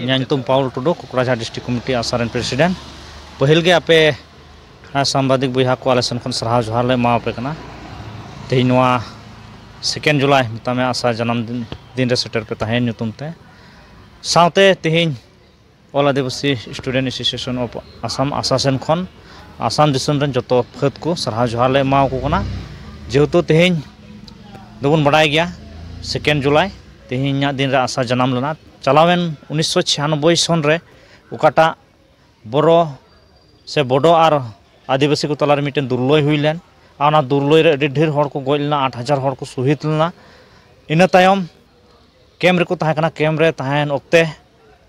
ᱤᱧᱟᱹᱜ ᱧᱩᱛᱩᱢ ᱯᱟᱣᱩᱞ ᱴᱩᱰᱩ ᱠᱚᱠᱨᱟᱡᱷᱟᱨ district committee ᱟᱥᱟ ᱨᱮᱱ ᱯᱨᱮᱥᱤᱰᱮᱱᱴ ᱯᱟᱹᱦᱤᱞ ᱜᱮ ᱟᱯᱮ ᱥᱟᱢᱵᱟᱫᱤᱠ ᱵᱚᱭᱦᱟ ᱠᱚ ᱟᱞᱮ ᱥᱮᱱ ᱠᱷᱚᱱ ᱥᱟᱨᱦᱟᱣ ᱡᱚᱦᱟᱨ ᱞᱮ ᱮᱢᱟ ᱟᱯᱮ ᱠᱟᱱᱟ ᱛᱮᱦᱮᱧ ᱱᱚᱣᱟ ᱥᱮᱠᱮᱱᱰ ᱡᱩᱞᱟᱭ ᱢᱮᱛᱟᱜ ᱢᱮ ᱟᱥᱟ ᱡᱟᱱᱟᱢ ᱫᱤᱱ ᱨᱮ ᱥᱮᱴᱮᱨ ᱯᱮ ᱛᱟᱦᱮᱸᱭᱮᱱ ᱧᱩᱛᱩᱢ ᱛᱮ ᱥᱟᱶᱛᱮ ᱛᱮᱦᱮᱧ all Adivasi student association of Assam ᱟᱥᱟ ᱥᱮᱱ ᱠᱷᱚᱱ ᱟᱥᱟᱢ ᱫᱤᱥᱚᱢ ᱨᱮᱱ ᱡᱚᱛᱚ ᱯᱷᱟᱹᱫᱽ ᱠᱚ ᱥᱟᱨᱦᱟᱣ ᱡᱚᱦᱟᱨ ᱞᱮ ᱮᱢᱟᱣ ᱠᱚ ᱠᱟᱱᱟ ᱡᱮᱦᱮᱛᱩ ᱛᱮᱦᱮᱧ ᱫᱚᱵᱚᱱ ᱵᱟᱰᱟᱭ ᱜᱮᱭᱟ ᱥᱮᱠᱮᱱᱰ ᱡᱩᱞᱟᱭ ᱛᱮᱦᱮᱧᱟᱜ ᱫᱤᱱ ᱨᱮ ᱟᱥᱟ ᱡᱟᱱᱟᱢ ᱞᱮᱱᱟ ᱪᱟᱞᱟᱣᱮᱱ ᱩᱱᱤᱥᱥᱚ ᱪᱷᱤᱭᱟᱱᱚᱵᱵᱳᱭ ᱥᱚᱱ ᱨᱮ ᱚᱠᱟᱴᱟᱜ ᱵᱳᱨᱳ ᱥᱮ ᱵᱳᱰᱳ ᱟᱨ ᱟᱹᱫᱤᱵᱟᱹᱥᱤ ᱠᱚ ᱛᱟᱞᱟᱨᱮ ᱢᱤᱫᱴᱮᱱ ᱫᱩᱨᱞᱟᱹᱭ ᱦᱩᱭ ᱞᱮᱱ ᱟᱨ ᱚᱱᱟ ᱫᱩᱨᱞᱟᱹᱭ ᱨᱮ ᱟᱹᱰᱤ ᱰᱷᱮᱨ ᱦᱚᱲ ᱠᱚ ᱜᱚᱡ ᱞᱮᱱᱟ ᱟᱴ ᱦᱟᱡᱟᱨ ᱦᱚᱲ ᱠᱚ ᱥᱚᱦᱤᱫ ᱞᱮᱱᱟ ᱤᱱᱟᱹ ᱛᱟᱭᱚᱢ ᱠᱮᱢᱯ ᱨᱮᱠᱚ ᱛᱟᱦᱮᱸ ᱠᱟᱱᱟ ᱠᱮᱢᱯ ᱨᱮ ᱛᱟᱦᱮᱱ ᱚᱠᱛᱮ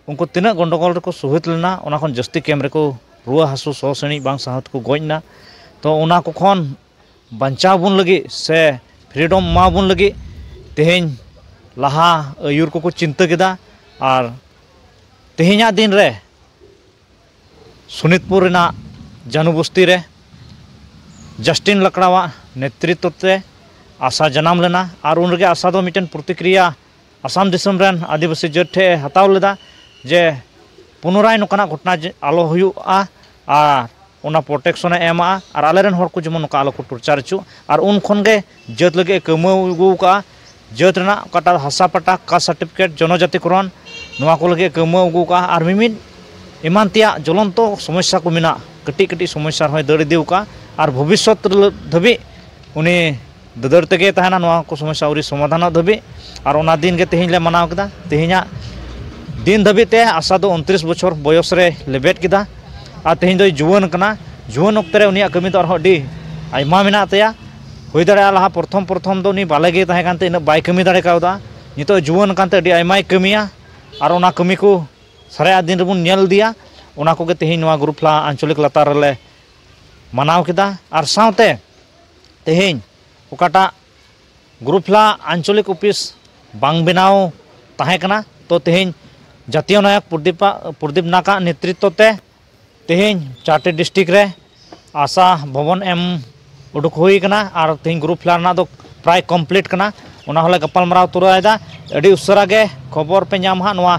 ᱩᱱᱠᱩ ᱛᱤᱱᱟᱹᱜ ᱜᱚᱱᱰᱳᱜᱳᱞ ᱨᱮᱠᱚ ᱥᱩᱦᱤᱛ ᱞᱮᱱᱟ ᱚᱱᱟ ᱠᱷᱚᱱ ᱡᱟᱹᱥᱛᱤ ᱠᱮᱢᱯ ᱨᱮᱠᱚ ᱨᱩᱣᱟᱹ ᱦᱟᱹᱥᱩ ᱥᱚ ᱥᱤᱬᱤᱡ ᱵᱟᱝ ᱥᱟᱦᱟᱣ ᱛᱮᱠᱚ ᱜᱚᱡ ᱮᱱᱟ ᱛᱚ ᱚᱱᱟ ᱠᱚ ᱠᱷᱚᱱ ᱵᱟᱧᱪᱟᱣ ᱵᱚᱱ ᱞᱟᱹᱜᱤᱫ ᱥᱮ ᱯᱷᱨᱤᱰᱚᱢ ᱮᱢᱟ ᱵᱚᱱ ᱞᱟᱹᱜᱤᱫ ᱛᱮᱦᱤᱧ ᱞᱟᱦᱟ ᱟᱹᱭᱩᱨ ᱠᱚᱠᱚ ᱪᱤᱱᱛᱟᱹ ᱠᱮᱫᱟ ᱟᱨ ᱛᱮᱦᱤᱧᱟᱜ ᱫᱤᱱ ᱨᱮ ᱥᱳᱱᱤᱛᱯᱩᱨ ᱨᱮᱱᱟᱜ ᱡᱟᱹᱱᱩ ᱵᱚᱥᱛᱤ ᱨᱮ ᱡᱟᱥᱴᱤᱱ ᱞᱟᱠᱲᱟᱣᱟᱜ ᱱᱮᱛᱨᱤᱛᱛᱚ ᱛᱮ ᱟᱥᱟ ᱡᱟᱱᱟᱢ ᱞᱮᱱᱟ ᱟᱨ ᱩᱱ ᱨᱮᱜᱮ ᱟᱥᱟ ᱫᱚ ᱢᱤᱫᱴᱮᱱ ᱯᱨᱚᱛᱤᱠᱨᱤᱭᱟ ᱟᱥᱟᱢ ᱫᱤᱥᱚᱢ ᱨᱮᱱ ᱟᱹᱫᱤᱵᱟᱹᱥᱤ ᱡᱟᱹᱛ ᱴᱷᱮᱱ ᱮ ᱦᱟᱛᱟᱣ ᱞᱮᱫᱟ ᱡᱮ ᱯᱩᱱᱚᱨᱟᱭ ᱱᱚᱝᱠᱟᱱᱟᱜ ᱜᱷᱚᱴᱚᱱᱟ ᱟᱞᱚ ᱦᱩᱭᱩᱜᱼᱟ ᱟᱨ ᱚᱱᱟ ᱯᱨᱳᱴᱮᱠᱥᱚᱱᱮ ᱮᱢᱟ ᱟᱨ ᱟᱞᱮ ᱨᱮᱱ ᱦᱚᱲ ᱠᱚ ᱡᱮᱢᱚᱱ ᱱᱚᱝᱠᱟ ᱟᱞᱚ ᱠᱚ ᱴᱚᱨᱪᱟᱨ ᱦᱚᱪᱚᱜ ᱟᱨ ᱩᱱ ᱠᱷᱚᱱ ᱜᱮ ᱡᱟᱹᱛ ᱞᱟᱹᱜᱤᱫ ᱮ ᱠᱟᱹᱢᱦᱟᱹᱭ ᱟᱹᱜᱩ ᱟᱠᱟᱫᱼᱟ ᱡᱟᱹᱛ ᱨᱮᱱᱟᱜ ᱚᱠᱟᱴᱟᱜ ᱦᱟᱥᱟ ᱯᱟᱴᱟ ᱠᱟᱥᱴ ᱥᱟᱨᱴᱤᱯᱷᱤᱠᱮᱴ ᱡᱚᱱᱚ ᱡᱟᱹᱛᱤ ᱠᱚᱨᱚᱱ ᱱᱚᱣᱟ ᱠᱚ ᱞᱟᱹᱜᱤᱫ ᱮ ᱠᱟᱹᱢᱦᱟᱹᱭ ᱟᱹᱜᱩ ᱟᱠᱟᱫᱼᱟ ᱟᱨ ᱢᱤᱢᱤᱫ ᱮᱢᱟᱱ ᱛᱮᱭᱟᱜ ᱡᱚᱞᱚᱱᱛᱚ ᱥᱚᱢᱚᱥᱥᱟ ᱠᱚ ᱢᱮᱱᱟᱜ ᱠᱟᱹᱴᱤᱡ ᱠᱟᱹᱴᱤᱡ ᱥᱚᱢᱚᱥᱥᱟ ᱨᱮᱦᱚᱸᱭ ᱫᱟᱹᱲ ᱤᱫᱤ ᱟᱠᱟᱫᱼᱟ ᱟᱨ ᱵᱷᱚᱵᱤᱥᱥᱚᱛ ᱫᱷᱟᱹᱵᱤᱡ ᱩᱱᱤ ᱫᱟᱹᱫᱟᱹᱲ ᱛᱮᱜᱮ ᱛᱟᱦᱮᱱᱟ ᱱᱚᱣᱟ ᱠᱚ ᱥᱚᱢᱚᱥᱥᱟ ᱟᱹᱣᱨᱤ ᱥᱚᱢᱟᱫᱷᱟᱱᱚᱜ ᱫᱷᱟᱹᱵᱤᱡ ᱟᱨ ᱚᱱᱟ ᱫᱤᱱᱜᱮ ᱛᱮᱦᱮᱧ ᱞᱮ ᱢᱟᱱᱟᱣ ᱠᱮᱫᱟ ᱛᱮᱦᱮᱧᱟᱜ ᱫᱤᱱ ᱫᱷᱟᱹᱵᱤᱡ ᱛᱮ ᱟᱥᱟ ᱫᱚ ᱩᱱᱛᱨᱤᱥ ᱵᱚᱪᱷᱚᱨ ᱵᱚᱭᱚᱥ ᱨᱮ ᱞᱮᱵᱮᱫ ᱠᱮᱫᱟ ᱟᱨ ᱛᱮᱦᱮᱧ ᱫᱚᱭ ᱡᱩᱣᱟᱹᱱ ᱠᱟᱱᱟ ᱡᱩᱣᱟᱹᱱ ᱚᱠᱛᱮ ᱨᱮ ᱩᱱᱤᱭᱟᱜ ᱠᱟᱹᱢᱤ ᱫᱚ ᱟᱨᱦᱚᱸ ᱟᱹᱰᱤ ᱟᱭᱢᱟ ᱢᱮᱱᱟᱜ ᱛᱟᱭᱟ ᱦᱩᱭ ᱫᱟᱲᱮᱭᱟᱜᱼᱟ ᱞᱟᱦᱟ ᱯᱨᱚᱛᱷᱚᱢ ᱯᱨᱚᱛᱷᱚᱢ ᱫᱚ ᱩᱱᱤ ᱵᱟᱞᱮ ᱜᱮ ᱛᱟᱦᱮᱸ ᱠᱟᱱᱛᱮ ᱩᱱᱟᱹᱜ ᱵᱟᱭ ᱠᱟᱹᱢᱤ ᱫᱟᱲᱮ ᱠᱟᱣᱫᱟ ᱱᱤᱛᱚᱜ ᱡᱩᱣᱟᱹᱱ ᱠᱟᱱᱛᱮ ᱟᱹᱰᱤ ᱟᱭᱢᱟᱭ ᱠᱟᱹᱢᱤᱭᱟ ᱟᱨ ᱚᱱᱟ ᱠᱟᱹᱢᱤ ᱠᱚ ᱥᱟᱨᱟᱭᱟᱜ ᱫᱤᱱ ᱨᱮᱵᱚᱱ ᱧᱮᱞ ᱤᱫᱤᱭᱟ ᱚᱱᱟ ᱠᱚᱜᱮ ᱛᱮᱦᱮᱧ ᱱᱚᱣᱟ ᱜᱩᱨᱩ ᱯᱷᱞᱟ ᱟᱧᱪᱚᱞᱤᱠ ᱞᱟᱛᱟᱨ ᱨᱮᱞᱮ ᱢᱟᱱᱟᱣ ᱠᱮᱫᱟ ᱟᱨ ᱥᱟᱶᱛᱮ ᱛᱮᱦᱮᱧ ᱚᱠᱟᱴᱟᱜ ᱜᱩᱨᱩᱯᱷᱞᱟ ᱟᱧᱪᱚᱞᱤᱠ ᱚᱯᱷᱤᱥ ᱵᱟᱝ ᱵᱮᱱᱟᱣ ᱛᱟᱦᱮᱸ ᱠᱟᱱᱟ ᱛᱚ ᱛᱮᱦᱮᱧ ᱡᱟᱛᱤᱭᱚ ᱱᱟᱭᱚᱠ ᱯᱨᱚᱫᱤᱯᱟᱜ ᱯᱨᱚᱫᱤᱯ ᱱᱟᱠᱟᱜ ᱱᱮᱛᱨᱤᱛᱚ ᱛᱮ ᱛᱮᱦᱮᱧ ᱪᱟᱨᱴᱮ ᱰᱤᱥᱴᱤᱠ ᱨᱮ ᱟᱥᱟ ᱵᱷᱚᱵᱚᱱ ᱮᱢ ᱩᱰᱩᱠ ᱦᱩᱭ ᱠᱟᱱᱟ ᱟᱨ ᱛᱮᱦᱮᱧ ᱜᱩᱨᱩᱯᱷᱞᱟ ᱨᱮᱱᱟᱜ ᱫᱚ ᱯᱨᱟᱭ ᱠᱚᱢᱯᱞᱤᱴ ᱠᱟᱱᱟ ᱚᱱᱟ ᱦᱚᱸᱞᱮ ᱜᱟᱯᱟᱞ ᱢᱟᱨᱟᱣ ᱛᱚᱨᱟᱭᱮᱫᱟ ᱟᱹᱰᱤ ᱩᱥᱟᱹᱨᱟ ᱜᱮ ᱠᱷᱚᱵᱚᱨ ᱯᱮ ᱧᱟᱢᱟ ᱦᱟᱸᱜ ᱱᱚᱣᱟ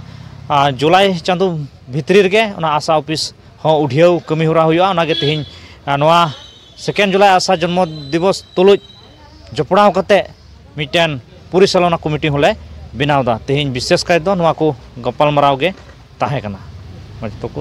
ᱡᱩᱞᱟᱭ ᱪᱟᱸᱫᱚ ᱵᱷᱤᱛᱨᱤ ᱨᱮᱜᱮ ᱚᱱᱟ ᱟᱥᱟ ᱚᱯᱷᱤᱥ ᱦᱚᱸ ᱩᱰᱷᱭᱟᱹᱣ ᱠᱟᱹᱢᱤ ᱦᱚᱨᱟ ᱦᱩᱭᱩᱜᱼᱟ ᱚᱱᱟᱜᱮ ᱛᱮᱦᱮᱧ ᱱᱚᱣᱟ ᱥᱮᱠᱮᱱᱰ ᱡᱩᱞᱟᱭ ᱟᱥᱟ ᱡᱚᱱᱢᱚ ᱫᱤᱵᱚᱥ ᱛᱩᱞᱩᱡ ᱡᱚᱯᱲᱟᱣ ᱠᱟᱛᱮ ᱢᱤᱫᱴᱮᱱ ᱯᱚᱨᱤᱪᱟᱞᱚᱱᱟ ᱠᱚᱢᱤᱴᱤ ᱦᱚᱸᱞᱮ ᱵᱮᱱᱟᱣ ᱮᱫᱟ ᱛᱮᱦᱮᱧ ᱵᱤᱥᱮᱥ ᱠᱟᱭᱛᱮ ᱱᱚᱣᱟ ᱠᱚ ᱜᱟᱯᱟᱞᱢᱟᱨᱟᱣ ᱜᱮ ᱛᱟᱦᱮᱸ ᱠᱟᱱᱟ ᱢᱟ ᱡᱚᱛᱚ ᱠᱚ